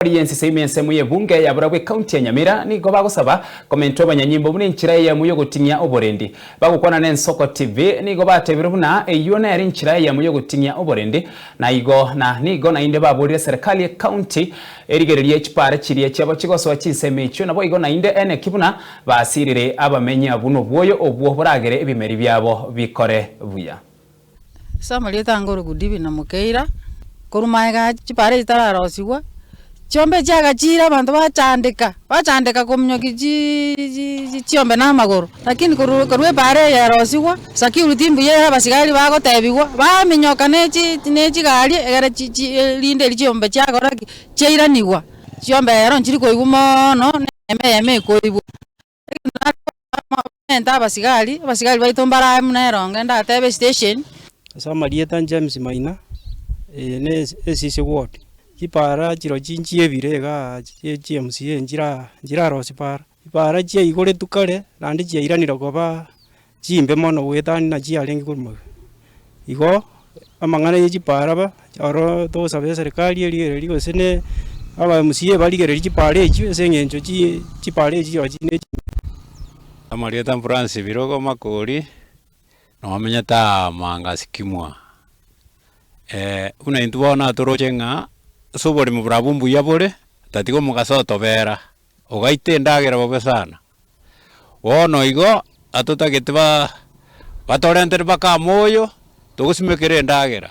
Tori y'ensisa ime ensemo y'ebunge ya barabwo ekaunti ya Nyamira nigo bagosaba komenta obonyanyimbo buna enchira eyemo y'ogoting'ia oborendi. Bagokwana n'Ensoko TV nigo batebire buna eyio nere enchira eyemo y'ogoting'ia oborendi na igo na nigo naende baborire serikali y'ekaunti erigererie chipaara chiria chiabo chigosoa chinsemo echio naboigo naende eneki buna basirire abamenyi abwo nobwoyo obwo boragere ebimeri biabo bikore buya. Ase amarieta ange ore Goodwin Namukeira, korwa magega aya chibare echi chitararosigwa, chiombe chiagachire abanto bachandeka, bachandeka kominyokia chiiii chiiii chiombe na amagoro, lakini korwa korwa ebare eye erosigwa, security mbuya ere abasigari bagotebigwa, baminyoka ne chi ne chigari egere chi chi erinde eri chiombe chiakora ki, chiairanigwa, chiombe ero nchiri koigwa moono, ne eyemo eyemo ekoigwa. Nende abasigari, abasigari baito mbaro aye buna eronge, ndatebe esitesheni. Ase amarieta James Maina, eye ne Esisi ward. Chipara chirochio nchie ebire igaa chia chi MCA nchira nchirarosia para. Chipara chiaigoretwe kare naende chiairanire koba chimbe mono goetania na chiarenge korwa magega. Igo amang'ana ye chipaara ba, oro togosabe eserikari erigererie gose ne aba mca barigererie chipaara echio ase eng'encho chi chipaara echio chirochio chire chimbe. Amarieta Francis Birogo Makori, nomenyete aa Manga Sycamore. buna intwe bono natoroche ng'a ase oboremi borabwo mbuya bore, otatiga omogaso otobera, ogaita endagera bobe sana, Bono igo atotagete batorentire mpaka moyo, togosimekera endagera.